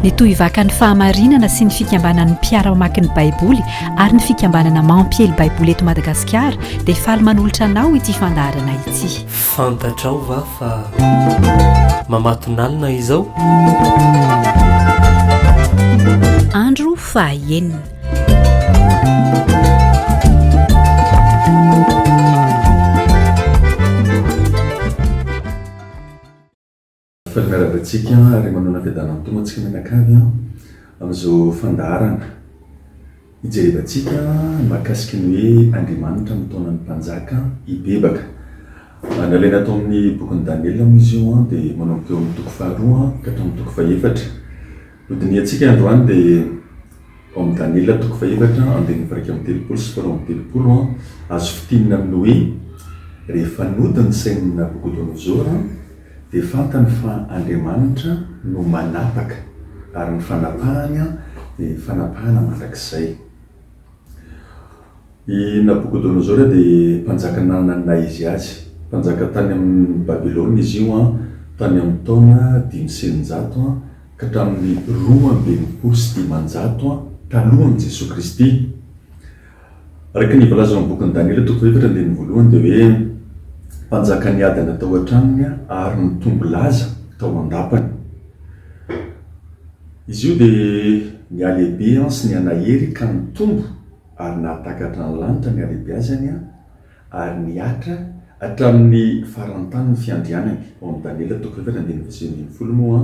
ny tohivakan'ny fahamarinana sy ny fikambanan'ny mpiara-mamaky ny baiboly ary ny fikambanana mampiely baiboly eto madagasikara dia faly manolotra anao ity fandaharana ity fantatrao va fa mamatonalina izao andro fahaenina Fa miarahaba antsika ary manao nafiadanana mitombo antsika mianakavy amin'izao fandaharana ijerevantsika mahakasika ny hoe Andriamanitra amin'ny taonan'ny mpanjaka hibebaka. Nalaina tao amin'ny bokin'i Daniela moa izy io dia manomboka eo amin'ny toko faharoa ka hatramin'ny toko fahefatra. No dinihantsika androany dia ao amin'ny Daniela toko fahefatra andininy fairaika amby telopolo sy folo amby telopolo, azo fintinina amin'ny hoe, Rehefa nody ny sain'i Nabokodonozora, dia fantany fa Andriamanitra no manapaka, ary ny fanapahany dia fanapahana mandrakizay. I Nabokodonosora dia mpanjaka nanana naha izy azy. Mpanjaka tany amin'ny Babylona izy io tany amin'ny taona dimy sy eninjato ka hatramin'ny roa amby enimpolo sy dimanjato talohan'i Jesoa Kristy. Araka ny voalazanao amin'ny bokin'i Daniela toko fahaefatra andininy voalohany dia hoe mpanjaka niadana tao an-tranony ary nitombo laza tao an-dapany. Izy io dia nihalehibe sy nihanahery ka nitombo ary nahatakatra ny lanitra ny halehibeazany ary nihatra hatramin'ny faran'ny tany ny fiandrianany. Ao amin'ny Daniela toko efatra andininy faha sivy ambin'ny folo moa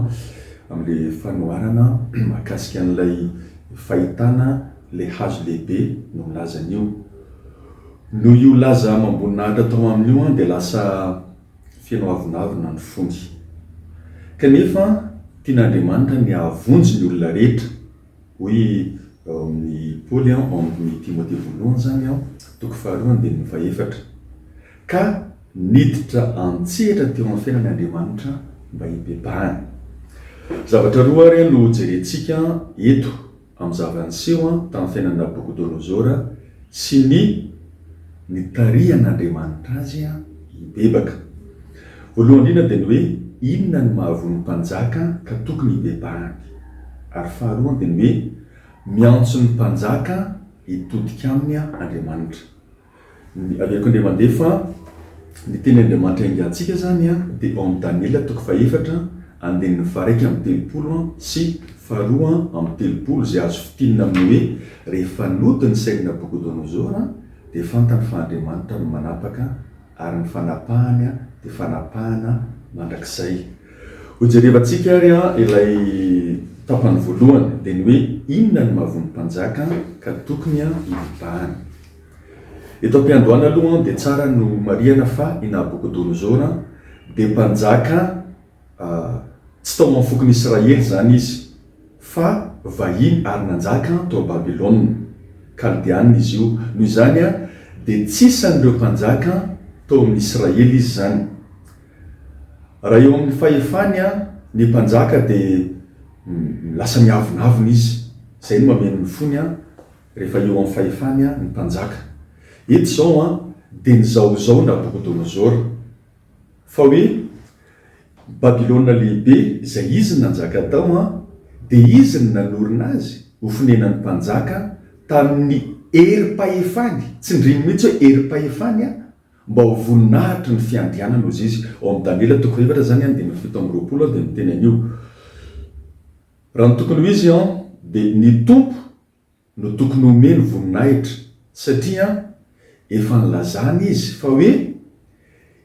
amin'ilay fanoharana mahakasika an'ilay fahitana ilay hazo lehibe no milaza an'io. Noho io laza amam-boninahitra tao aminy io dia lasa. feno avonavona ny fony. Kanefa tian'Andriamanitra ny hahavonjy ny olona rehetra. Hoy ao amin'ny Paoly ao amin'ny Timothée voalohany izany ao, toko faharoa andininy fahefatra. Ka niditra an-tsehatra teo amin'ny fiainany Andriamanitra mba hibebahany. Zavatra roa ary no jerentsika eto. amin'ny zava-niseho tamin'ny fiainan'i Nabokodonozora sy ny nitarihan'Andriamanitra azy hibebaka. Voalohany indrindra dia ny hoe inona no mahavoa ny mpanjaka ka tokony hibebahany, ary faharoany dia ny hoe miantso ny mpanjaka hitodika aminy Andriamanitra. Ny aleoko indray mandeha fa ny teny Andriamanitra iangahantsika izany dia ao amin'ny Daniela toko fahefatra andininy faha-iraika amby telopolo sy faharoa amby telopolo izay azo fintinina amin'ny hoe rehefa nody ny sain'i Nabokodonozora dia fantany fa Andriamanitra no manapaka ary ny fanapahany dia fanapahana mandrakizay. Hojerevantsika ary ilay tapany voalohany dia ny hoe inona no mahavoa ny mpanjaka ka tokony hibahana. Eto am-piandohana aloha dia tsara ny homarihana fa i Nabokodonozora dia mpanjaka tsy tao amin'ny fokon'i Israely izany izy fa vahiny ary nanjaka tao Babylona, Kaldeanina, izy io. Noho izany dia tsy isan'ireo mpanjaka tao amin'ny Israely izy izany. Raha eo amin'ny fahefany ny mpanjaka dia lasa miavonavona izy. Izay no mameno ny fony. Rehefa eo amin'ny fahefany ny mpanjaka. Eto izao an, dia ny zaozao Nabokodonosor. Fa hoe, Babylona Lehibe, izay izy nanjaka tao an, dia izy no nanorina azy ho fonenan'ny mpanjaka tamin'ny herim-pahefany, tsindriny mihitsy hoe herim-pahefany an, mba ho voninahitry ny fiandrianany, hoy izy ao amin'ny Daniela toko fahaefatra izany an, andininy fito amby roapolo dia miteny an'io. Raha ny tokony ho izy an, dia ny Tompo no tokony omeny voninahitra satria efa nilazany izy fa hoe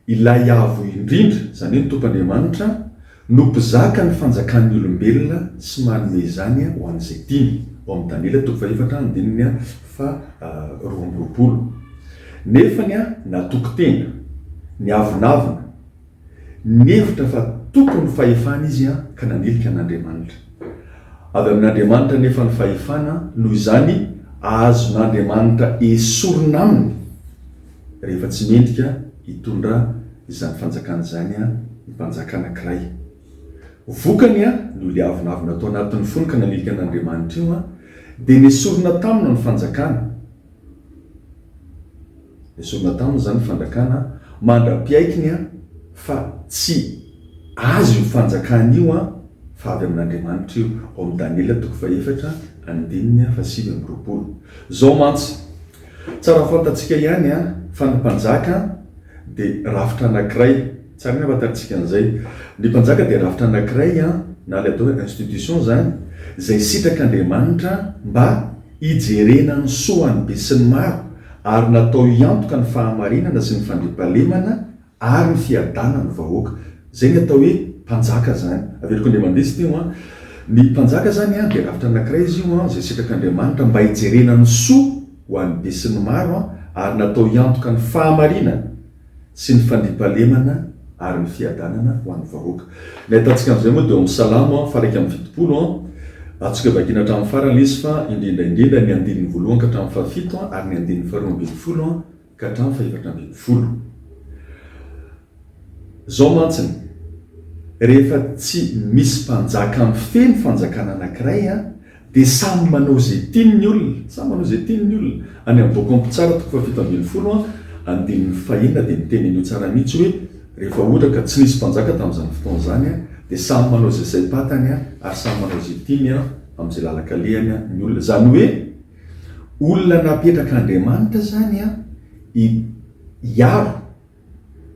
ilay Avo Indrindra, izany hoe ny Tompo Andriamanitra, no mpizaka ny fanjakan'ny olombelona sy manome izany ho an'izay tiany, ao amin'ny Daniela toko fahefatra andininy faharoa amby roapolo. Nefany natoky tena, niavonavona. Nihevitra fa tompony fahefana izy ka nanilika an'Andriamanitra. Avy amin'Andriamanitra anefa ny fahefana, noho izany azon'Andriamanitra esorina aminy rehefa tsy mendrika hitondra izany fanjakana izany ny mpanjaka anankiray. Vokany, noho ilay avonavona tao anatin'ny fony ka nanilika an'Andriamanitra io, dia nesorina taminy ny fanjakana. Esorina taminy izany ny fanjakana mandra-piaikiny fa tsy azy io fanjakana io fa avy amin'Andriamanitra io, ao amin'ny Daniela toko fahefatra andininy fahasivy amby roapolo. Izao mantsy, tsara fantatsika ihany fa ny mpanjaka dia rafitra anankiray. Tsara ny hahafantarantsika an'izay. Ny mpanjaka dia rafitra anankiray, na ilay atao hoe institution izany, izay sitrak'Andriamanitra mba hijerena ny soa an'ny besinimaro, ary natao hiantoka ny fahamarinana sy ny fandriampahalemana ary ny fiadanan'ny vahoaka. Izay ny atao hoe mpanjaka izany. Averiko indray mandeha izy ity. Ny mpanjaka izany dia rafitra anankiray izy io izay sitrak'Andriamanitra mba hijerena ny soa ho an'ny besinimaro, ary natao hiantoka ny fahamarinana. sy ny fandriampahalemana ary ny fiadanana ho an'ny vahoaka. Ny ahitantsika an'izay moa dia ao amin'ny Salamo faha-iraika amby fitopolo, antsika vakiana hatramin'ny farany ilay izy fa indrindra indrindra ny andininy voalohany ka hatramin'ny fahafito ary ny andininy faharoa ambin'ny folo ka hatramin'ny fahefatra ambin'ny folo. Izao mantsy ny rehefa tsy misy mpanjaka mifehy ny fanjakana anankiray Dia samy manao izay tiany ny olona, samy manao izay tiany ny olona. Any amin'ny Book Omp Tsara toko fahafito ambin'ny folo an, andininy fahenina dia miteny an'io tsara mihitsy hoe, Rehefa ohatra ka tsy nisy mpanjaka tamin'izany fotoana izany an, dia samy manao izay saim-patany an, ary samy manao izay tiany an, amin'izay lalan-kalehany an, ny olona. Izany hoe, olona napetrak'Andriamanitra izany an, hi, hiaro.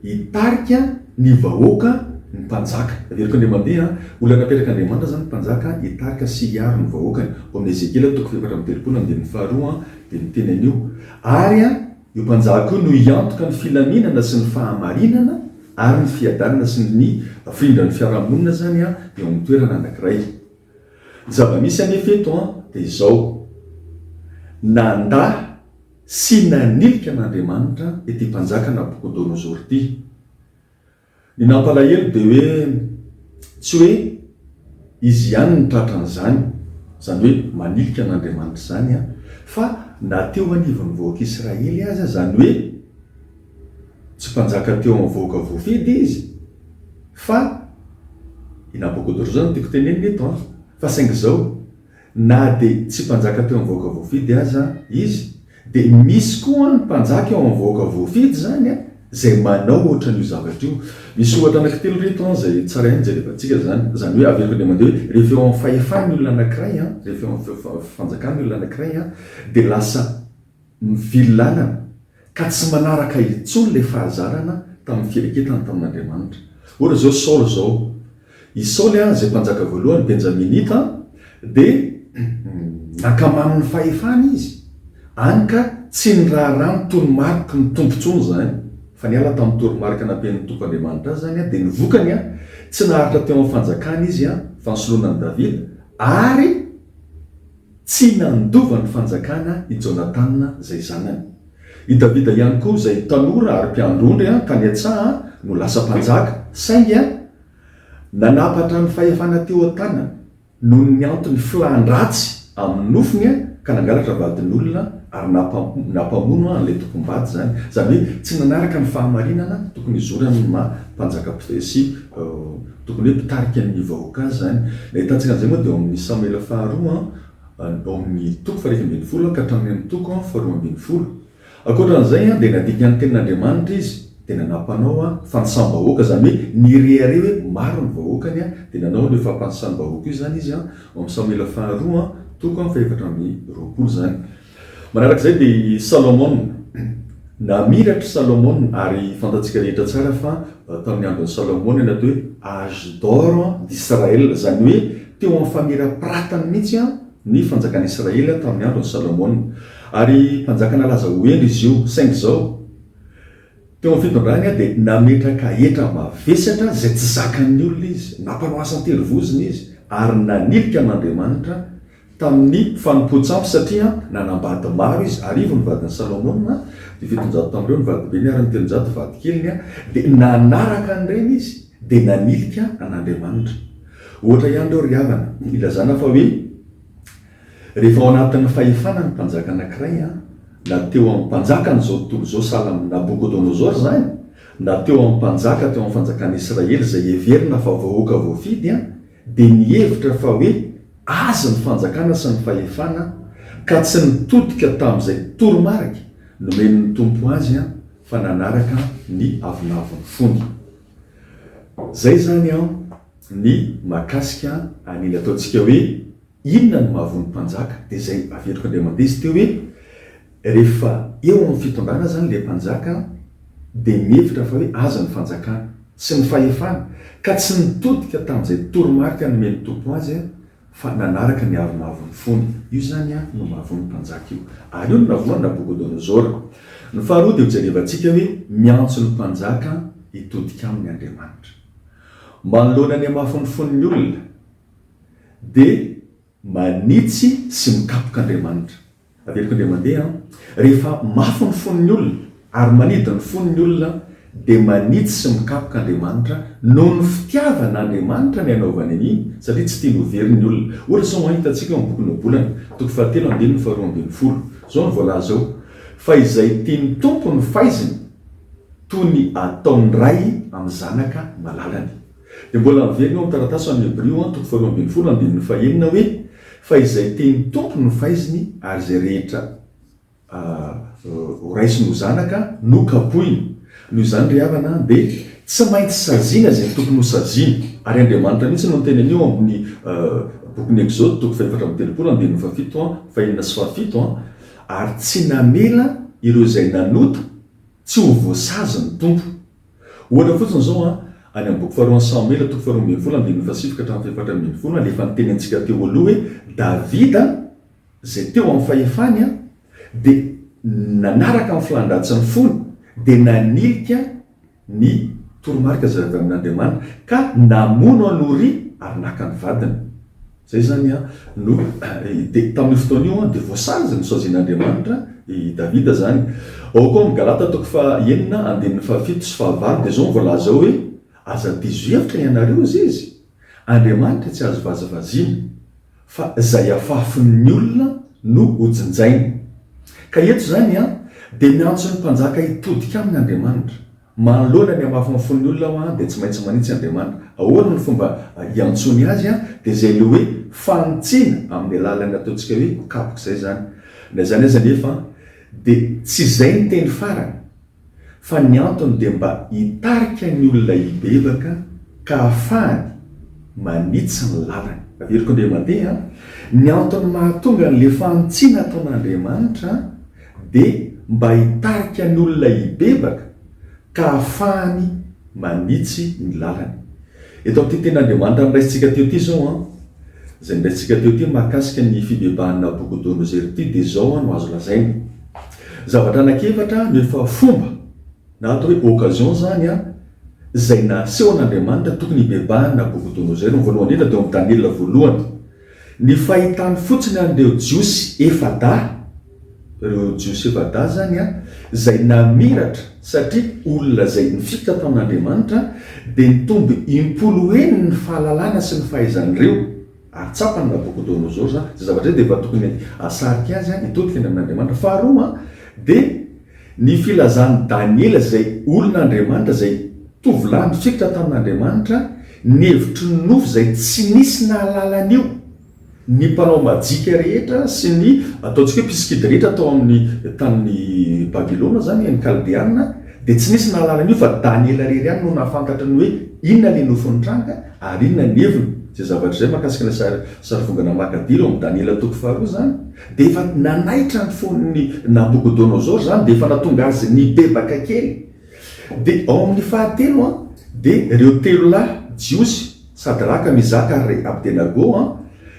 Hitarika ny vahoaka ny mpanjaka. Averiko Andriamandeha a! Olona napetrak'Andriamanitra zany ny mpanjaka hitarika sy hiaro ny vahoakany. Ao amin'ny Ezekiela toko fahefatra amby telopolo andininy faharoa dia miteny an'io. Ary a! io mpanjaka io no hiantoka ny filaminana sy ny fahamarinana ary ny fiadanana sy ny hafindran'ny fiarahamonina zany a! eo amin'ny toerana anankiray. Ny zava-misy anefa eto dia izao, nandà sy nanilika an'Andriamanitra ity mpanjaka Nabokodonosor ity. Ny nampalahelo dia hoe tsy hoe izy ihany no tratra an'izany, izany hoe manilika an'Andriamanitra izany, fa na teo anivon'ny vahoak'Israely aza, izany hoe, Tsy mpanjaka teo amin'ny vahoaka voafidy izy fa i Nabokodonosora no tiako tenenina eto an! Fa saingy izao, na dia tsy mpanjaka teo amin'ny vahoaka voafidy aza izy dia misy koa ny mpanjaka eo amin'ny vahoaka voafidy izany an! izay manao ohatran'io zavatra io. Misy ohatra anankitelo ireto an! izay tsara ihany jerevantsika izany. Izany hoe averiko indray mandeha hoe rehefa eo amin'ny fahefany ny olona anankiray an! rehefa eo amin'ny fanjakany ny olona anankiray an! dia lasa. Nivily lalana ka tsy manaraka intsony ilay fahazarana tamin'ny firaketany tamin'Andriamanitra. Ohatra izao Saoly izao. I Saoly izay mpanjaka voalohany Benjaminita dia nankamanin'ny fahefany izy, any ka tsy niraharaha ny toromariky ny Tompo intsony izany, fa niala tamin'ny toromarika nampian'ny Tompo Andriamanitra azy izany, dia ny vokany, tsy naharitra teo amin'ny fanjakana izy, fa nisoloana an'i Davida, ary. Tsy nandova ny fanjakana i Jonatana izay zanany. I Davida ihany koa izay tanora ary mpiandry ondry tany an-tsaha no lasa mpanjaka, saingy nanapatra ny fahefana teo an-tanany noho ny antony filan-dratsy amin'ny nofony ka nangalatra vadin'olona ary nampamono an'ilay tompom-bady izany. Izany hoe tsy nanaraka ny fahamarinana tokony hizorany ny maha mpanjaka sy Tokony hoe mpitarika ny vahoaka azy izany. Nahitantsika an'izay moa dia ao amin'ny Samoela faharoa, ao amin'ny toko faha-iraika ambin'ny folo ka hatramin'ny amin'ny toko faharoa ambin'ny folo. Ankoatra an'izay dia nadikan'ny tenin'Andriamanitra izy dia nanam-panao fanisam-bahoaka, izany hoe nirehareha hoe maro ny vahoakany, dia nanao an'io fampanisam-bahoaka io izany izy, ao amin'ny Samoela faharoa, toko faha-efatra amby roapolo izany. Manaraka izay dia i Salomona. Namiratra i Salomona, ary fantatsika rehetra tsara fa tamin'ny andron'i Salomona ny atao hoe âge d'or d'Israël, izany hoe teo amin'ny famirapiratany mihitsy ny fanjakan'i Israël tamin'ny andron'i Salomona. Ary mpanjaka nalaza ho hendry izy io. Saingy izao, teo amin'ny fitondrany dia nametraka hetra mavesatra izay tsy zakan'ny olona izy, nampanao asan-terivozona izy, ary nanilika an'Andriamanitra, tamin'ny fanompoan-tsampy satria nanambady maro izy, arivo ny vadin'i Salomona, dia fitonjato tamin'ireo ny vadibeny ary ny telonjato vadikeliny, dia nanaraka an'ireny izy dia nanilika an'Andriamanitra. Ohatra ihany ireo ry havana, ilazana fa hoe rehefa ao anatin'ny fahefana ny mpanjaka anankiray, na teo amin'ny mpanjakan'izao tontolo izao sahala amin'i Nabokodonosora izany, na teo amin'ny mpanjaka teo amin'ny fanjakan'i Israely izay heverina fa vahoaka voafidy, dia nihevitra fa hoe azy ny fanjakana sy ny fahefana ka tsy nitodika tamin'izay toromarika nomen'ny Tompo azy fa nanaraka ny avonavon'ny fony. Izay izany ny mahakasika an'iny ataontsika hoe Inona no mahavoa ny mpanjaka? Dia izay aventiko Andriamambey izy teo hoe, rehefa eo amin'ny fitondrana izany ilay mpanjaka dia mihevitra fa hoe azy ny fanjakana sy ny fahefana ka tsy nitodika tamin'izay toromarika nomen'ny Tompo azy fa nanaraka ny aro mahavoa ny fony. Io izany no mahavoa ny mpanjaka io. Ary io no nahavoa an'i Nabokodonozora. Ny faharoa dia hojerevantsika hoe miantso ny mpanjaka hitodika aminy Andriamanitra. Manoloana ny hamafin'ny fon'ny olona. dia manitsy sy mikapoka Andriamanitra. Averiko indray mandeha an! Rehefa mafy ny fon'ny olona ary manidy ny fony ny olona dia manitsy sy mikapoka Andriamanitra noho ny fitiavan' Andriamanitra ny hanaovany an'iny satria tsy tiany ho very ny olona. Ohatra izao an, hitantsika ao amin'ny bokin'ny Ohabolana, toko fahatelo andininy faharoa ambin'ny folo. Izao no voalaza ao, Fa izay tian'ny Tompo ny faiziny, toy ny ataon'ny ray amin'ny zanaka malalany. Dia mbola miverina ao amin'ny taratasy ao amin'ny Hebrio an, toko faharoa ambin'ny folo, andininy fahenina hoe, Fa izay tian'ny Tompo no faiziny, ary izay rehetra horaisiny ho zanaka no kapohiny. Noho izany ry havana an, dia tsy maintsy saziana izay tokony ho saziana. Ary Andriamanitra mihitsy no niteny an'io ao amin'ny bokin'ny Ekzôdy, toko fahefatra amby telopolo, andininy fahafito an, fahenina sy fahafito an, Ary tsy namela ireo izay nanota tsy ho voasazy ny Tompo. Ohatra fotsiny izao an, any amin'ny boky faharoan'i Samoela, toko faharoa ambin'ny folo, andininy fahasivy ka hatramin'ny fahefatra ambin'ny folo, alefa ny teny antsika teo aloha hoe Davida, izay teo amin'ny fahefany an, dia nanaraka ny filan-dratsin'ny fony, dia nanilika ny toromarika izay avy amin'Andriamanitra, ka namono an'i Oria ary naka ny vadiny. Izay izany no, dia tamin'io fotoana io dia voasazy ny saozin'Andriamanitra i Davida izany. Ao koa amin'ny Galata toko fahenina andininy fahafito sy fahavalo dia izao no voalaza ao hoe, Aza diso hevitra ianareo, hoy Izy, Andriamanitra tsy azo vazavaziana, fa izay afafin'ny olona no hojinjainy. Ka eto izany dia miantso ny mpanjaka hitodika aminy Andriamanitra. Manoloana ny hamafin'ny fon'ny olona aho dia tsy maintsy manitsy Andriamanitra. Ahoana no fomba hiantsoany Azy? Dia izay ilay hoe fanitsiana amin'ny alalan'ny ataontsika hoe kapoka izay izany. Na izany aza anefa dia tsy izay ny teny farany, fa ny antony dia mba hitarika ny olona hibebaka ka hahafahany manitsy ny lalany. Averiko indray mandeha ny antony mahatonga an'ilay fanitsiana ataon'Andriamanitra. dia mba hitarika ny olona hibebaka ka hahafahany manitsy ny lalany. Eto amin'ity tenin'Andriamanitra noraisintsika teo ity izao, izay noraisintsika teo ity mahakasika ny fibebahan'i Nabokodonosera ity dia izao no azo lazaina, zavatra anankiefatra no efa fomba na atao hoe occasion izany izay nasehon'Andriamanitra tokony hibebahan'i Nabokodonosera. Ny voalohany indrindra dia ao amin'ny Daniela voalohany. Ny fahitany fotsiny an'ireo Jiosy efa-dahy, ireo Jiosy efa-dahy izany an, izay namiratra satria olona izay nifikitra tao amin'Andriamanitra, dia nitombo im-polo heny ny fahalalana sy ny fahaizan'ireo, ary tsapan'i Nabokodonosora izany, izay zavatra izay dia efa tokony hahasarika azy hitodika any amin'Andriamanitra. Faharoa, dia. Ny filazan'i Daniela izay olon'Andriamanitra izay tovolahy nifikitra tamin'Andriamanitra ny hevitry ny nofo izay tsy nisy nahalala an'io, ny mpanao majika rehetra sy ny ataontsika hoe mpisikidy rehetra tao amin'ny tanin'i Babylona izany, ny Kaldeana, dia tsy nisy nahalala an'io fa Daniela irery ihany no nahafantatra ny hoe inona ilay nofo nitranga ary inona ny heviny izay zavatra izay mahakasika ilay sarivongana makadira ao amin'ny Daniela toko faharoa izany. Dia efa nanaitra ny fon'i Nabokodonosor izany, dia efa nahatonga azy nibebaka kely. Dia ao amin'ny fahatelo an, dia ireo telo lahy jiosy, Sadraka, Mesaka ary Abdenago an,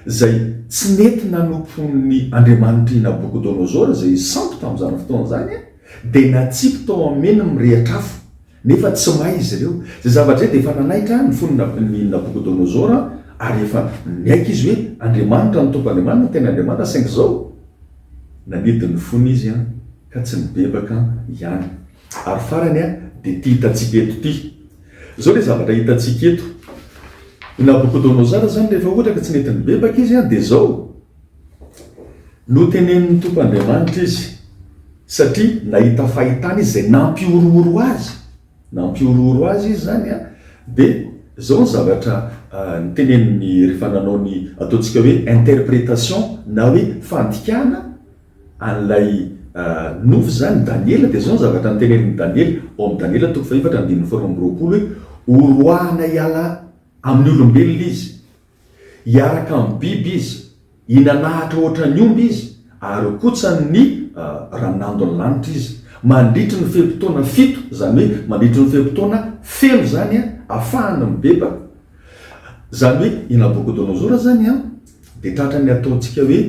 izay tsy nety nanompo ny Andriamanitr'i Nabokodonosor, izay sampy tamin'izany fotoana izany an, dia natsipy tao amin'ny mirehitra afo. Nefa tsy may izy ireo. Izay zavatra izay dia efa nanaitra ny fon'i Nabokodonosora ary efa niaiky izy hoe Andriamanitra no Tompo Andriamanitra no tena Andriamanitra saingy izao nanidy ny fony izy ka tsy nibebaka ihany. Ary farany dia ity hitantsika eto ity. Izao ilay zavatra hitantsika eto. I Nabokodonosora izany rehefa ohatra ka tsy nety nibebaka izy dia izao. Notenenin'ny Tompo Andriamanitra izy, satria nahita fahitana izy izay nampihorohoro azy, nampihorohoro azy izy izany an, dia izao ny zavatra noteneniny rehefa nanao ny ataontsika hoe interprétation na hoe fandikana an'ilay nofy izany Daniela, dia izao ny zavatra notenenin'i Daniela ao amin'ny Daniela toko fahefatra andininy faharoa amby roapolo hoe, horoahana hiala amin'ny olombelona izy. Hiaraka amin'ny biby izy, hinanahatra hoatra ny omby izy, ary hokotsany ny ranandon'ny lanitra izy. Mandritry ny fe-potoana fito, izany hoe mandritry ny fe-potoana feno izany ahafahany mibebaka. Izany hoe i Nabokodonozora izany dia tratran'ny ataontsika hoe.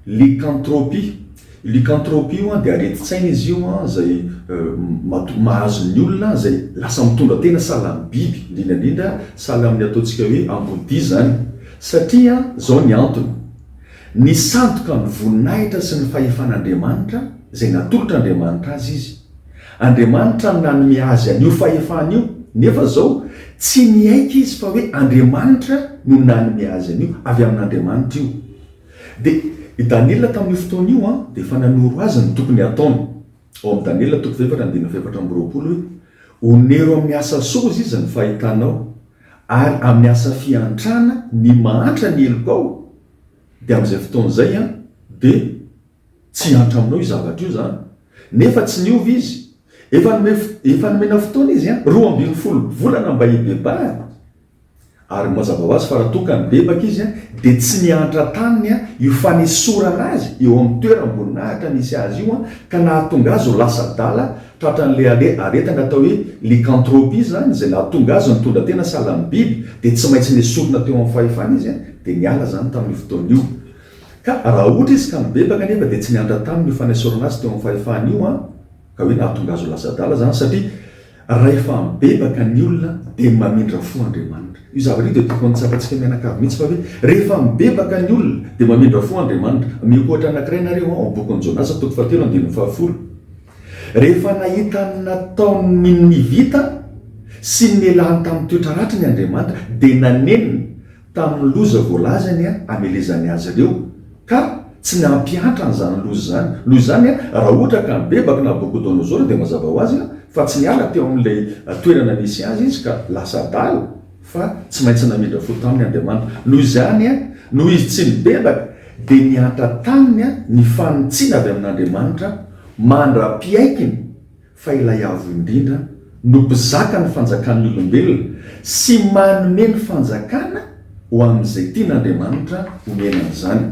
Lycanthropie, lycanthropie io an dia aretin-tsaina izy io an izay mahatonga, mahazo ny olona izay lasa mitondra tena sahala amin'ny biby, indrindra indrindra sahala amin'ny ataontsika hoe ambodia izany, satria izao ny antony, ny sandoka ny voninahitra sy ny fahefan'Andriamanitra izay natolotr'Andriamanitra azy izy, Andriamanitra no nanome azy an'io fahefana io, nefa izao tsy niaiky izy fa hoe Andriamanitra no nanome azy an'io, avy amin'Andriamanitra io. Dia i Daniela tamin'io fotoana io dia efa nanoro azy ny tokony hataony. Ao amin'ny Daniela toko fahefatra andininy fahefatra amby roapolo hoe, Honero amin'ny asa soa hozy izy ny fahitanao, ary amin'ny asa fiantrana ny mahantra ny helokao, dia amin'izay fotoana izay dia. Tsy hiantra aminao io zavatra io izany. Nefa tsy niova izy. Efa nomey, efa nomena fotoana izy an, roa ambin'ny folo volana mba hibebahana. Ary mazava ho azy fa raha toa ka nibebaka izy an, dia tsy niantra taminy an, io fanesorana azy eo amin'ny toeram-boninahitra nisy azy io an, ka nahatonga azy ho lasa adala tratran'ilay are, aretina atao hoe lycanthropie izany, izay nahatonga azy nitondra tena sahala amin'ny biby, dia tsy maintsy nesorina teo amin'ny fahefana izy an, dia niala izany tamin'io fotoana io. Ka raha ohatra izy ka mibebaka anefa dia tsy niantra taminy io fanesorana azy teo amin'ny fahefany io an, ka hoe nahatonga azy ho lasa adala zany satria rahefa mibebaka ny olona dia mamindra fo Andriamanitra. Io zavatra io dia tokony tsapantsika mianakavy mihitsy fa hoe rehefa mibebaka ny olona dia mamindra fo Andriamanitra. Ameko ohatra anankiray nareo an, ao bokin'i Jonasa toko fahatelo andininy fahafolo. Rehefa nahita ny nataon'ny Nivita sy ny nialany tamin'ny toetra ratriny Andriamanitra dia nanenina, tamin'ny loza voalazany hamelezany azy ireo ka tsy ny hampihantra an'izany loza izany. Noho izany, raha ohatra ka nibebaka Nabokodonosora dia mazava ho azy fa tsy niala teo amin'ilay toerana nisy azy izy ka lasa adala fa tsy maintsy namindra fo taminy Andriamanitra. Noho izany, noho izy tsy nibebaka dia niantra taminy ny fanintsiana avy amin'Andriamanitra mandra-piaikiny fa ilay Avo Indrindra no mpizaka ny fanjakan'ny olombelona sy manome ny fanjakana ho amin'izay tian'Andriamanitra homena an'izany.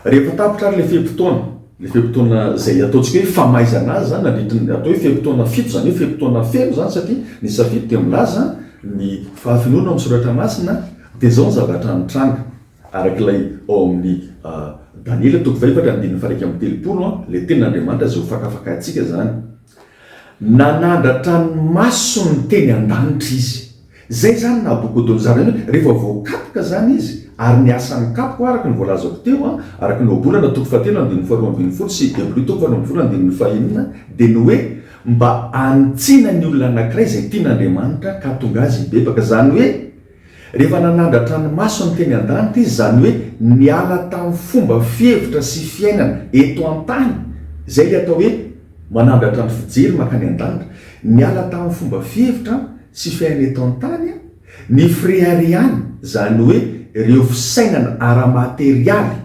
Rehefa tapitra ary ilay fe-potoana, ilay fe-potoana izay ataontsika hoe famaizana azy izany, nandritry ny, atao hoe fe-potoana fito, izany hoe fe-potoana feno izany satria ny safidy dia milaza ny fahafenoana ao amin'ny Soratra Masina, dia izao ny zavatra mitranga. Araka ilay ao amin'ny Daniela toko fahefatra andininy faha iraika amby telopolo, ilay Tenin'Andriamanitra izay hofakafakaintsika izany, nanandratra ny masony teny an-danitra izy. Izay izany Nabokodonozara io, rehefa voakapoka izany izy, ary ny asan'ny kapoka, araka ny voalazako teo, araka ny Ohabolana toko fahatelo andininy faharoa ambin'ny folo sy Hebreo toko faharoa ambin'ny folo andininy fahenina, dia ny hoe mba hanitsiana ny olona anankiray izay tian'Andriamanitra ka hahatonga azy hibebaka, izany hoe Rehefa nanandratra ny masony teny an-danitra izy, izany hoe niala tamin'ny fomba fihevitra sy fiainana eto an-tany, izay ilay atao hoe manandratra ny fijery mankany an-danitra, niala tamin'ny fomba fihevitra sy fiainana eto an-tany ny fireharehana, izany hoe ireo fisainana ara-materialy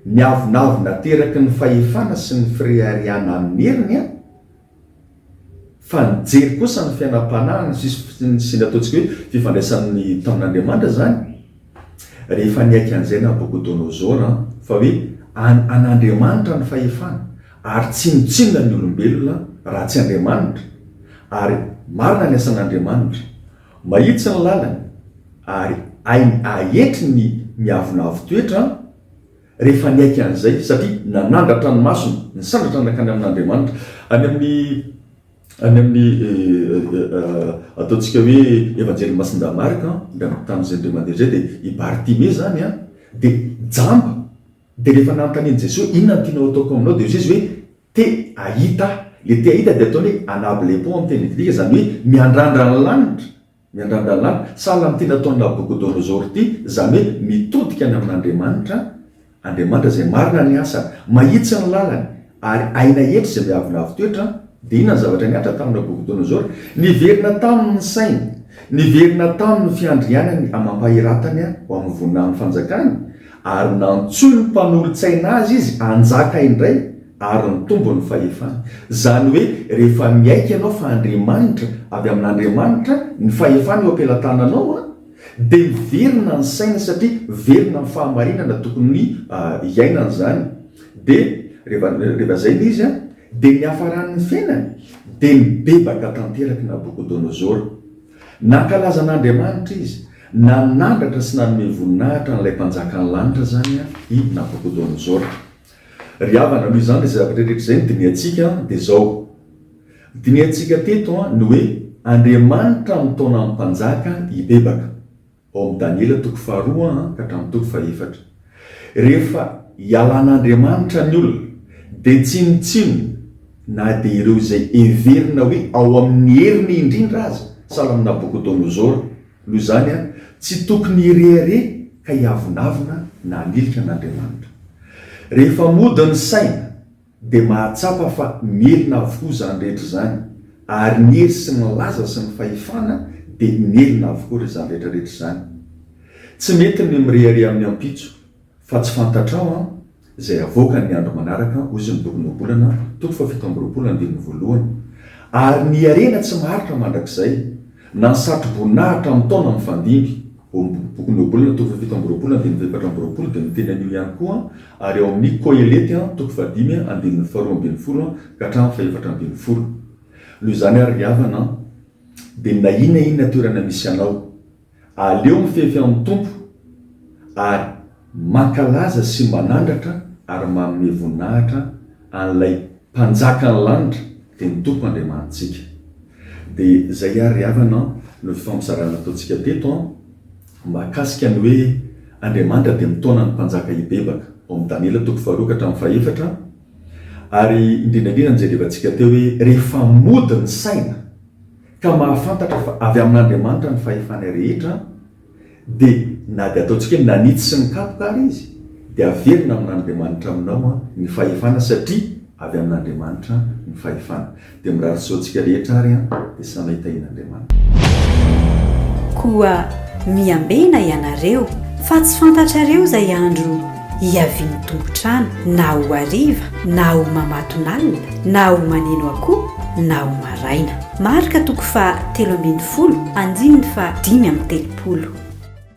ny avonavona ateraky ny fahefana sy ny fireharehana amin'ny heriny, Fa nijery kosa ny fiainam-panahy ny sisiny sy ny ataontsika hoe fifandraisany tamin'Andriamanitra izany rehefa niaiky an'izay Nabokodonosor an, fa hoe an an'Andriamanitra ny fahefana ary tsinontsinona ny olombelona raha tsy Andriamanitra ary marina ny asan'Andriamanitra, mahitsy ny lalany ary hainy ahetry ny miavonavo toetra an. rehefa niaiky an'izay, satria nanandratra ny masony, nisandratra nankany amin'Andriamanitra, any amin'ny, any amin'ny, ataontsika hoe Evanjelin'i Masindahy Marc an, dia tamin'izay indray mandeha izay dia i Bartimée izany an, dia jamba, dia rehefa nanontanian'i Jesoa, inona no tianao hataoko aminao? dia hoy izy hoe, te hahita aho, ilay te hahita dia ataony hoe anablepo amin'ny teny grika, izany hoe miandrandra ny lanitra, Miandandalà, sahala amin'ity nataon'i Nabokodonosor ity, izany hoe mitodika any amin'Andriamanitra, Andriamanitra izay marina ny asany, mahitsy ny lalany, ary aina hetra izay miavonavo toetra, dia inona ny zavatra nihatra tamin'i Nabokodonosor? Niverina taminy ny sainy, niverina taminy ny fiandrianany amam-pahiratany ho amin'ny voninahiny fanjakany, ary nantsoin'ny mpanolotsaina azy izy hanjaka indray, ary nitombo ny fahefany. Izany hoe rehefa miaiky ianao fa Andriamanitra, avy amin'Andriamanitra, ny fahefana eo am-pelatananao, dia miverina ny saina satria velona amin'ny fahamarinana tokony hiainany izany. Dia rehefa, rehefa izay ilay izy, dia niafarany ny fiainany, dia nibebaka tanterak'i Nabokodonozora. Nankalaza an'Andriamanitra izy, nanandratra sy nanome voninahitra an'ilay Mpanjakan'ny lanitra izany i Nabokodonozora. Ry havana, noho izany izay zavatra rehetra izay no dinihantsika dia izao. Dinihantsika teto ny hoe Andriamanitra amin'ny taonan'ny mpanjaka hibebaka. Ao amin'ny Daniela toko faharoa ka hatramin'ny toko fahefatra. Rehefa ialan'Andriamanitra ny olona dia tsinontsinona na dia ireo izay heverina hoe ao amin'ny heriny indrindra aza, sahala amin'i Nabokodonosora Noho izany, tsy tokony hirehareha ka hiavonavona na hanilika an'Andriamanitra. Rehefa mody ny saina, dia mahatsapa fa mielina avokoa izany rehetra izany, ary ny hery sy ny laza sy ny fahefana dia mielina avokoa izany rehetra rehetra izany. Tsy mety ny mirehareha amin'ny ampitso. Fa tsy fantatrao an! Izay havoaka ny andro manaraka, hoy izy ny bokin'ny Ohabolana, toko fahafito amby roapolo, andininy voalohany. Ary ny harena tsy maharitra mandrakizay, na ny satroboninahitra amin'ny taona mifandimby, ao amin'ny bokin'ny Ohabolana, toko fahafito amby roapolo, andininy efatra amby roapolo, dia miteny an'io ihany koa an, ary ao amin'ny Kohelety, toko fahadimy, andininy faharoa ambin'ny folo ka hatramin'ny fahefatra ambin'ny folo. Noho izany àry ry havana an! dia na inona inona toerana misy anao, Aleo mifefy amin'ny Tompo ary mankalaza sy manandratra ary manome voninahitra an'ilay Mpanjakan'ny lanitra dia ny Tompo Andriamanitsika. Dia izay ary ry havana an, no fifampizarana nataontsika teto an, mahakasika ny hoe Andriamanitra dia mitaona ny mpanjaka hibebaka, ao amin'ny Daniela toko faharoa ka hatramin'ny fahefatra, ary indrindra indrindra ny izay revatsika teo hoe rehefa mody ny saina, ka mahafantatra fa avy amin'Andriamanitra ny fahefana rehetra, dia na dia ataontsika hoe nanitsy sy nikapoka ary izy, dia averina amin'Andriamanitra aminao ny fahefana satria avy amin'Andriamanitra ny fahefana. Dia mirary soa antsika rehetra ary dia sanay tahin'Andriamanitra. Koa miambena ianareo, fa tsy fantatrareo izay andro Hiavian'ny tompon-trano na ho hariva na ho mamatonalina na ho maneno akoho na ho maraina. Marka toko faha telo ambin'ny folo, andininy faha dimy amby telopolo.